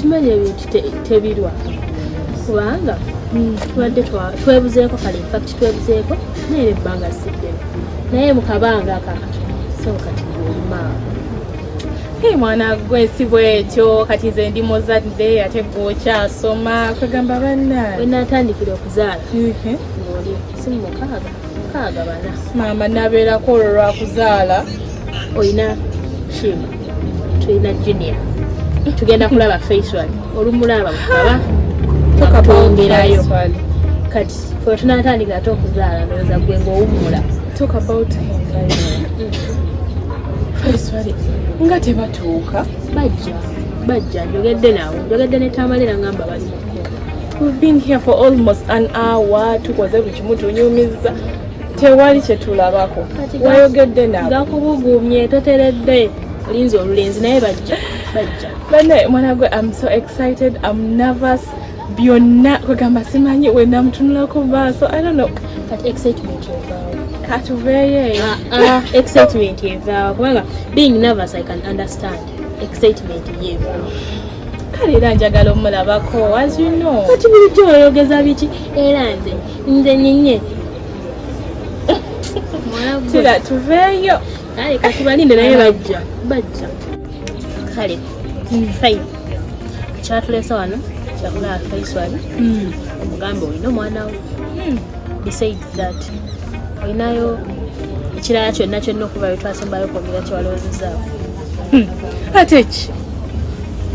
okimanyi ebintu tebirwa kubanga hmm. tubadde twebuzeeko kale infact twebuzeeko naye ebbanga siddemu naye mukabanga akakati so kati Hey, mwana gwe si bwekyo kati nze ndi muzadde ate gwe okyasoma kwegamba banna wenatandikira okuzaala ngoli simu mukaaga mukaaga bana maama nabeerako olwo lwakuzaala olina kima tulina junior tugenda kulaba facial olumulaba mukaba twongerayo kati fe tunatandika ate okuzaala ndowoza gwe ngaowumula talk about him right now. Mm. nga tebatuuka bajja bajja njogedde nabo njogedde ne tamalira ngamba bali mu We've been here for almost an hour tukoze buli kimu tunyumiza tewali kyetulabako wayogedde nabo gakubugumye toteredde olinza olulenzi naye bajja bajja bane mwana gwe am so excited am nervous byonna kwegamba simanyi wena mutunulako maaso i don't know but excitement katuveeyo eyo ah, ah, excitement evaawo kubanga being nervous i can understand excitement yevaawo kale era njagala omulabako as you know kati bulijjo oyogeza biki era nze nze nyinye tira tuveeyo kale kati balinde naye bajja bajja kale fine kyatulesa wano kyakulaba faisal hmm. omugambe olina omwana wo hmm. besides that olinayo ekirala kyonna kyonna okuba wetwasembayo okwogera kyewalowozezaako hmm. ate ki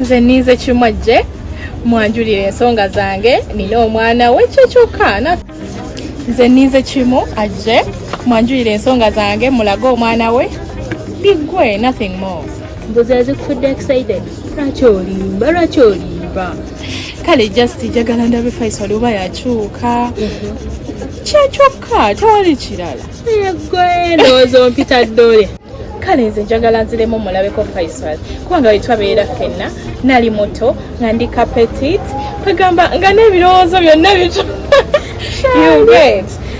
nze ninze kimwajje mwanjulira ensonga zange nina omwana we kyekyokka nze ninze kimu ajje mwanjulira ensonga zange mulage omwana we biggwe nothing more mbuzi azikufudde excited lwaki olimba lwaki olimba kale just jagala ndabe faisal oba yakyuka mhm. kyekyokka tewali kirala egwe ndowooza ompita ddole kale nze njagala nziremu mulabeko faisal kubanga wetwabeera fenna nali muto nga ndi kapetit kwegamba nga n'ebirowoozo byonna bito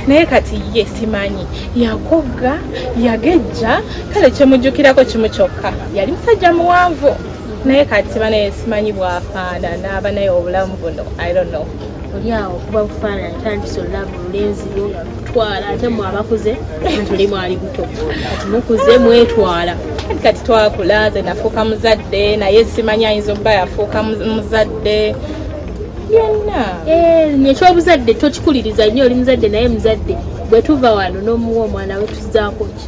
naye kati ye simanyi yakogga yagejja kale kyemujjukirako kimu kyokka yali musajja muwanvu naye kati banaye simanyi bwafaanana abanaye obulamu buno i don't know olyawo kuba bufaanana tandisa olulaba olulenzi lwo twala ate mwe abakuze ntuli mwali buto kati mukuze mwetwala kati twakula ze nafuuka muzadde naye simanyi ayinza okuba yafuuka muzadde byonna eh, ekyobuzadde tokikuliriza nnyo oli muzadde naye muzadde bwe tuva wano n'omuwa omwana we tuzaako ki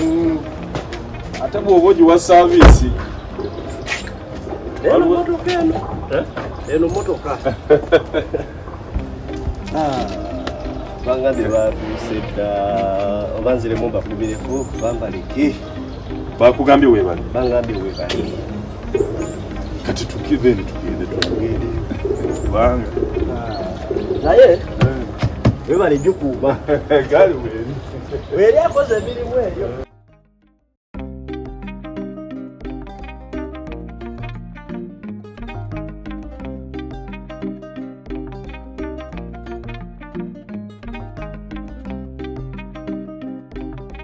Mm. ate bwoba ogiwa saaviisi eno motoka eno eh? eno motoka ah, bangade batuuse dda oba nziremu mbakumireko bambaleki Bakugambye webale. Bangambye webale. Kati tukive ni tugende tugende. Banga. Naye. Eh. Webale jukuba. Gali weli. Weli akoze bili weli.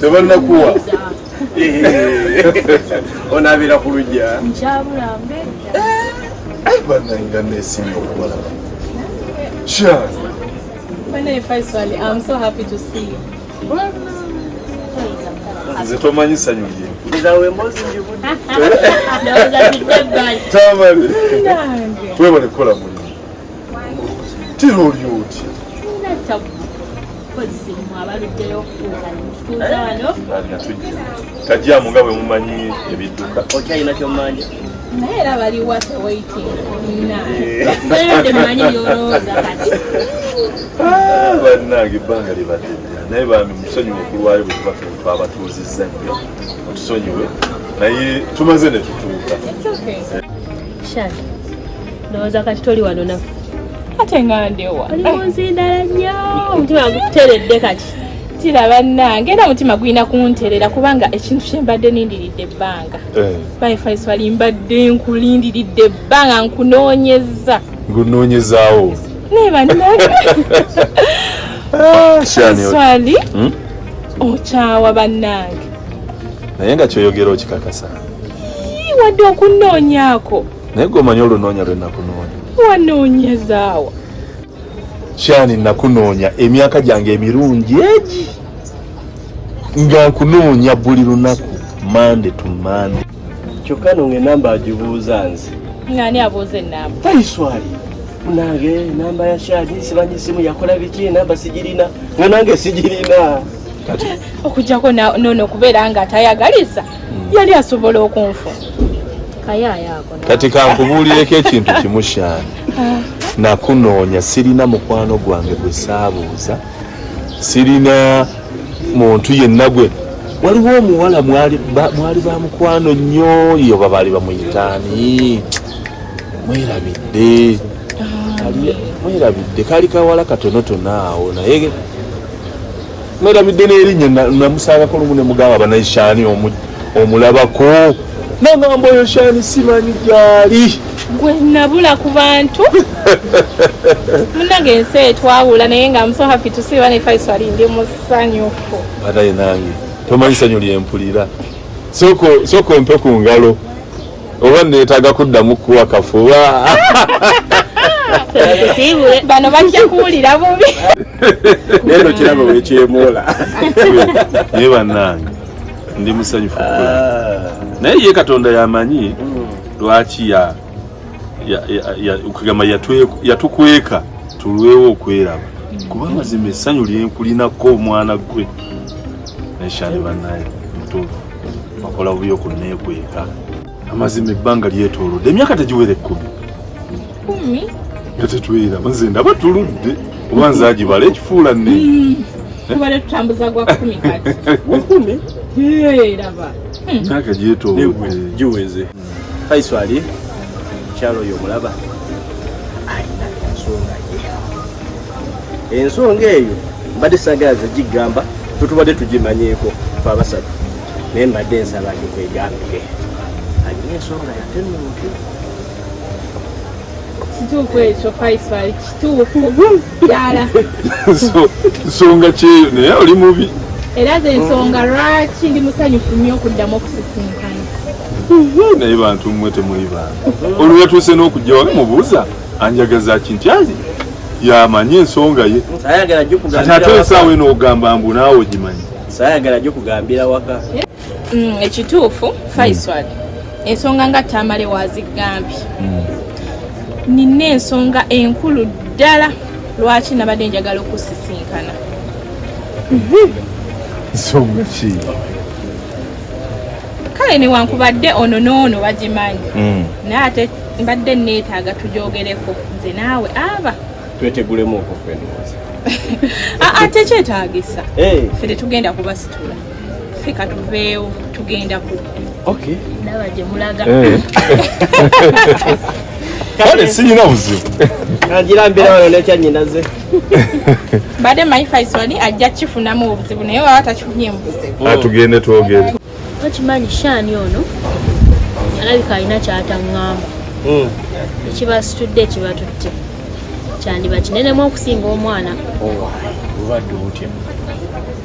tebannakuwa onabeera ku lujja nkyabulambe eh, bananga nesimye okubalaba nze tomanyi sanyu lye tamale webale kukola mulimu tira oli otya kajjamu nga bwe mumanyi ebidduka okyalina kyomanja naye era baliwa tewaitinaemanyi yolooza kati ah, bannange ebbanga libadde naye bambi musonyiwe okulwayo bwe tuba twabatuuzizza nnyo otusonyiwe naye tumaze ne tutuuka Shani, ndowooza kati toli wano nafe ate nga ndewa oli munzindala nnyo omutima guteredde kati tira bannange era omutima gulina kunterera kubanga ekintu kyembadde nindiridde ebbanga eh. baefaiswali mbadde nkulindiridde ebbanga nkunoonyeza ngunoonyezaawo naye bannange ah, swali hmm? okyawa bannange naye nga kyoyogera okikakasa wadde okunnoonyaako naye gwe omanyi olunoonya lwe nakunoonya wanoonyezaawa kyani nakunoonya emyaka gyange emirungi egi nga nkunoonya buli lunaku mande to mande kyokka no ngaenamba agibuuza nze ngani abuuza enamba faiswali munange enamba ya shani simanyi esimu yakola biki enamba sigirina nga nange sigirina okujjako nono okubeera nga atayagaliza yali asobola okunfu kati kankubuulireko ekintu kimu shaani ah. nakunoonya sirina mukwano gwange gwe saabuuza sirina muntu yenna gwe waliwo omuwala mwali ba mukwano nnyo yo babaali bamuyitaani mwerabidde ah. mwerabidde kali kawala katonotono awo naye mwerabidde n'erinnya namusangako lumu ne mugamba banaishani omulabako nagamba oyo shani simanyi gyali gwe nabula ku bantu munange ensi etwawula naye nga am so happy to see one faisal ndi musanyufu banaye nange tomanyi sanyu lyempulira soko soko mpe ku ngalo oba neetaaga kuddamu kuwa kafuba bano bajja kuwulira bubi neno kiraba wekyemoola naye bannange ndi musanyufu ah. naye ye katonda yamanyi mm. lwaki ya kugamba yatukweka tulwewo okweraba mm. kuba amazima essanyu lyenkulinako omwana gwe neshani banaye mutuufu bakola bubi okunneekweka amazima ebbanga lyetoolodde emyaka tegiwera ekkumi kumi nga tetwera nze ndaba tuludde oba nze agibala ekifuula ne hmm. tubale tutambuza gwa kumi kati wakumi laba hmm. myaka gyetoolodde giweze Faiswali mukyalo oyo omulaba alina ensonga ye ensonga eyo mbadde sagala zegigamba tutubadde tugimanyeeko fe abasatu naye mbadde ensaba ndigwegambire alina ensonga yatenuuti kituufu ekyo faiswali kituufu nsonga kyeyo naye oli mubi era ze nsonga lwaki ndi musanyufu nnyo okuddamu okusisinkana naye bantu mmwe temuli bantu olwo yatuuse n'okujja wali mubuuza anjagaza ki nti ali yamanyi ensonga ye ate ensaawa eno ogamba mbu naawe ogimanyi sayagala gyo kugambira waka mm, ekituufu faisal mm. ensonga nga tamale wazigambye mm. nina ensonga enkulu ddala lwaki nabadde njagala okusisinkana nsonga ki kale newankubadde ono noono bagimanyi mm. naye ate mbadde neetaaga tujogereko nze naawe aba twetegulemu okufa ate kyetaagisa fe tetugenda kubasitula ffe katuveewo tugenda ku okay ndaba gye mulaga eh. kale siyina buzibu agira mbeera wano nekyanyinaze mbadde manyi faisoni ajja kifunamu obuzibu naye waba takifunye mubuzibu atugende ah, twogere okimanyi shaani ono alabika alina kyataŋŋamba hmm. ekibasitudde ekibatutte kyandiba kinenemu okusinga omwana obadde oh, otya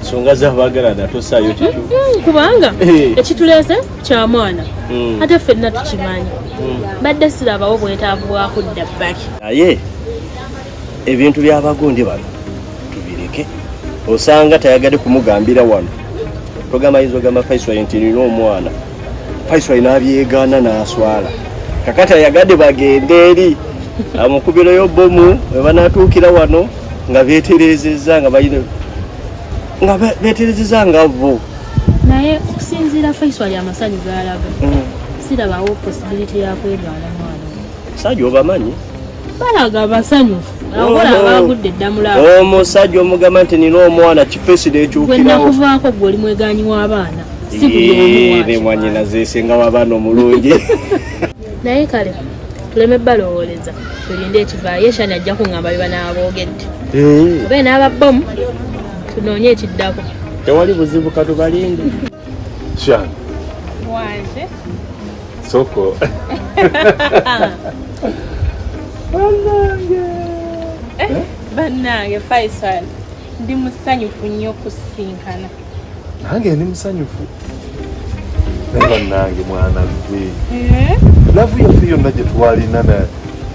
nsonga zabagalana tosaayo mm, mm, kubanga eh. ekituleese kya mwana mm. ate ffenna tukimanyi badde sirabawo bwetaavu bwakudda bbali naye ebintu byabagundi bano tubireke osanga tayagade kumugambira wano togamba yinza ogamba faiswa nti nina omwana Faisal n'abyegaana n'aswala kakati ayagadde bagende eri amukubireyo bomu webanatuukira wano nga beterezeza nga bayina nga beterezeza nga bo naye okusinziira Faisal ali amasanyu galaga mm. sirabawo posibiliti yakwegala mwana sajo obamanyi balaga basanyufu omusajja omugamba nti nina omwana kifeside ekyukirawonakuvaako gwe oli mweganyi w'abaana nemwanyina zesinga w'abaana omulungi naye kale tuleme balowooleza tulinde ekivaayo eshani ajja kuŋamba bye banaaboogedde obe n'ababomu tunoonye ekiddako tewali buzibu katubalinde Shani. Wanje. Soko. Banange. Eh, eh? Banange Faisal. Ndi musanyufu nnyo kusinkana. Nange ndi musanyufu. Banange mwana gwe. Eh? Lavu yaffe yonna gye twalina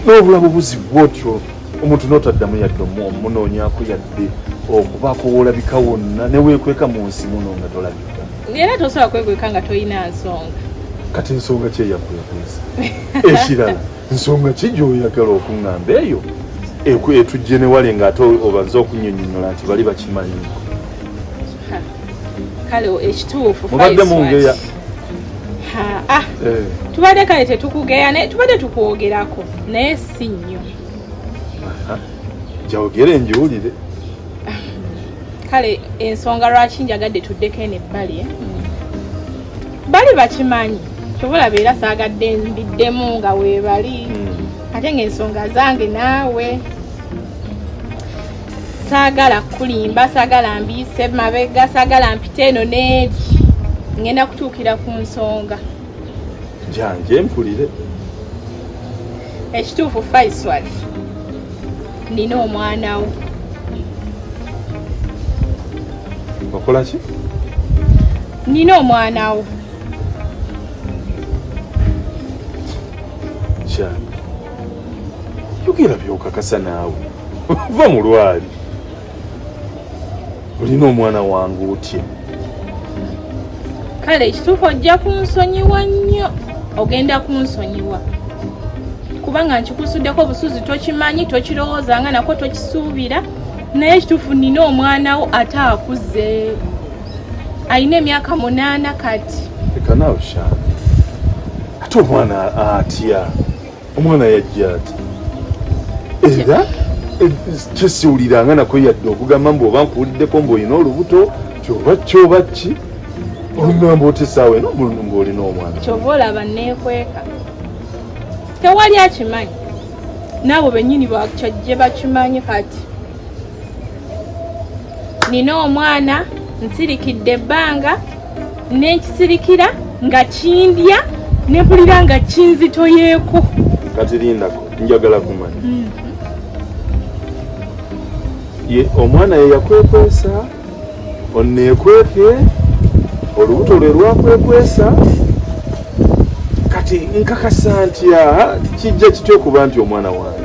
n'obulamu buzibu bwotyo. omuntu notaddamu yadde omunoonyako yadde okubaako woolabika wonna neweekweka mu nsi muno nga tolabika era tosobola kwekweka nga tolina nsonga kati ensonga ki eyakwekwesa ekirala nsonga ki gyoyagala okuŋŋamba eyo etujje newale nga ate obanza okunyonyola nti bali bakimanyi kale ekituufu mubadde mungeya ah, eh. tubadde kale tetukugeya naye tubadde tukwogerako naye si nnyo jawogere njiwulire kale ensonga lwaki njagadde tuddeko eno ebbali eh? bali bakimanyi kyova olaba era saagadde mbiddemu nga weebali hmm. ate ng'ensonga zange naawe saagala kukulimba saagala mbiyise mabega saagala mpite eno neeri ngenda kutuukira ku nsonga janje mpulire ekituufu faiswal nina omwana wo okola ki nina omwana wo janje yogera byokakasa naawe va mu lwali olina omwana wange otye kale ekituufu ojja kunsonyiwa nnyo ogenda kunsonyiwa kubanga nkikusuddeko obusuzi tokimanyi tokirowooza nga nako tokisuubira naye ekituufu nina omwana wo ate akuze alina emyaka munaana kati ekanawe shani ate omwana atya omwana yajja ati era eh, kyesiwuliranga nako yadde okugamba mbu oba nkuwuliddeko mbu olina olubuto kyoba kyoba ki olugamba oti esaawa eno mbu olina omwana kyova olaba nekweka tewali akimanyi naabo benyini kyajje bakimanyi kati nina omwana nsirikidde ebbanga nenkisirikira nga kindya nempulira nga kinzitoyeeko kati lindako njagala kumanya mm. ye omwana ye yakwekwesa onekweke olubuto lwe lwakwekwesa kati nkakasa ntya kijja kitya okuba nti omwana wange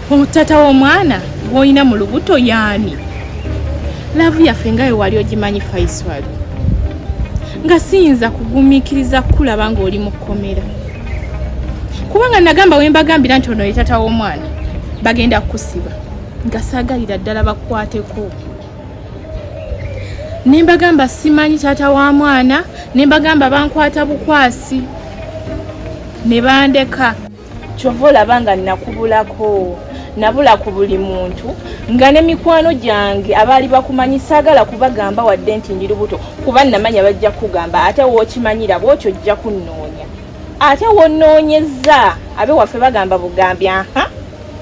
omutata w'omwana gwolina mu lubuto yaani laavu yaffe nga we wali ogimanyi faiswali nga siyinza kugumiikiriza kukulaba ng'oli mu kkomera kubanga nagamba we mbagambira nti ono ye tata w'omwana bagenda kukusiba nga saagalira ddala bakukwateko ne mbagamba simanyi tata wa mwana ne mbagamba bankwata bukwasi ne bandeka kyova olaba nga nakubulako nabula ku buli muntu nga ne mikwano gyange abaali bakumanyi saagala kubagamba wadde nti ndi lubuto kuba namanya bajja kukugamba ate wookimanyira bwotyo ojja kunnoonya ate wonoonyeza abe waffe bagamba bugambi aha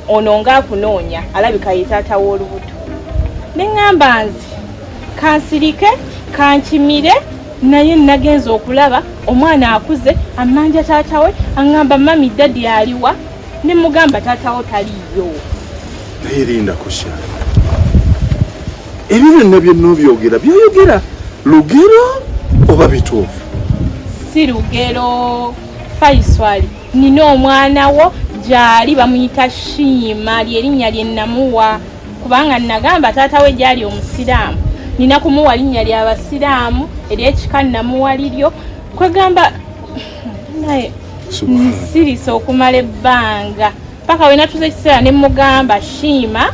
ono ngaakunoonya alabika ye taata w'olubuto ne ŋŋamba nze kansirike kankimire naye nagenze okulaba omwana akuze amanja taata we aŋŋamba mami dadi aliwa ne mugamba taata wo taliyo naye rinda kusha ebyo byonna byonna obyogera byoyogera lugero oba bituufu si lugero faiswali nina omwana wo gyali bamuyita shiima lyerinnya lye namuwa kubanga nagamba taata we gyali omusiraamu nina kumuwa linnya lya basiraamu eryekika namuwa liryo kwegamba naye nsirisa okumala ebbanga paka wenatuza ekiseera nemugamba shiima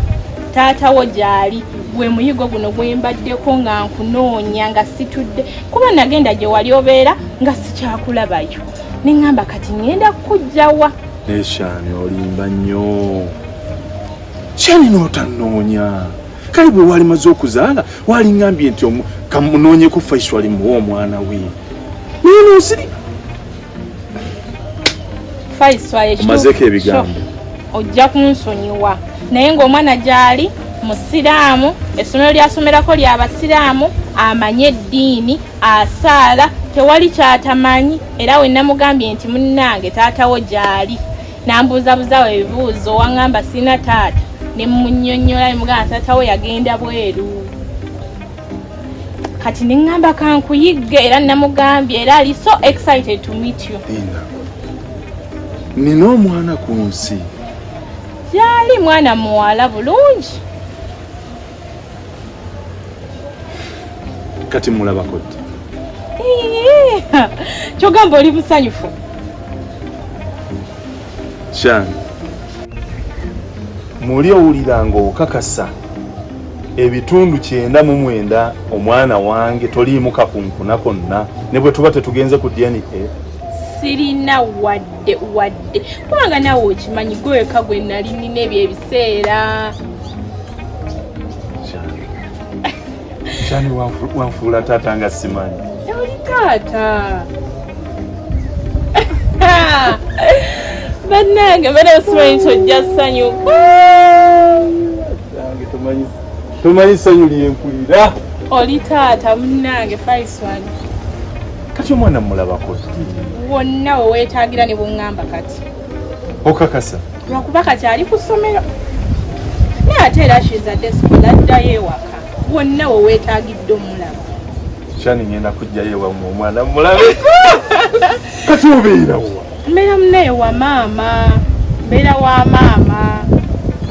taata wo gyali gwe muyigo guno gwembaddeko nga nkunoonya nga situdde kuba nagenda gye wali obeera nga sikyakulabayo neŋamba kati ŋenda kukujjawa nekyani olimba nnyo kyani n'otanoonya kale bwe wali maze okuzaala walingambye nti kamunoonyeko faiswali muwa omwana we naye n'osiri omazeko ebigambo ojja kunsonyiwa naye ng'omwana gyali musiraamu essomero lyasomerako lya basiraamu amanye eddiini asaala tewali kyatamanyi era we namugambye nti munnange taatawo gyali nambuuzabuzawo ebibuuzo waŋŋamba sirina taata ne munyonyola ne mugamba taata we yagenda bweru kati ne ŋŋamba kankuyigge era namugambye era ali so excited to meet you nina omwana ku nsi gyali mwana muwala bulungi kati mulabako ddi kyogamba oli musanyufu kyange muli owulira ng'okakasa ebitundu kyenda mu mwenda omwana wange toliimu kakunkuna konna ne bwe tuba tetugenze ku dna sirina wadde wadde kubanga nawe okimanyi gweweka gwe nali nina ebyo ebiseera Shani wanfuula taata nga simanyi. Oli taata. Bannange bana osimanyi tojja ssanyu. Tomanyi ssanyu lyenkulira. Oli taata munnange Faisal. Kati omwana mulabako. Wonna weweetaagira ne bungamba kati. Okakasa. lwakuba kati ali ku ssomero naye ate era shiza desikola addayo ewaka wonna we weetagidde omulaba kyani ngenda kujjayo ewamu omwana mulabe kati obeerawo mbeera munaye wa maama mbeera wa maama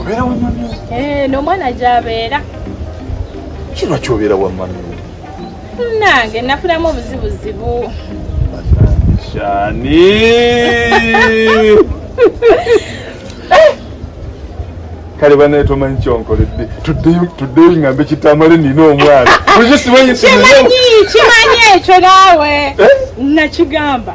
obeera wa mami eh, n'omwana gyabeera kirwa kyobeera wa mami nange nafunamu obuzibuzibu shani kale banaye tomanyi kyonkoledde tuddeyo ngambe kitamale nina omwana kimanyi ekyo naawe eh? nakigamba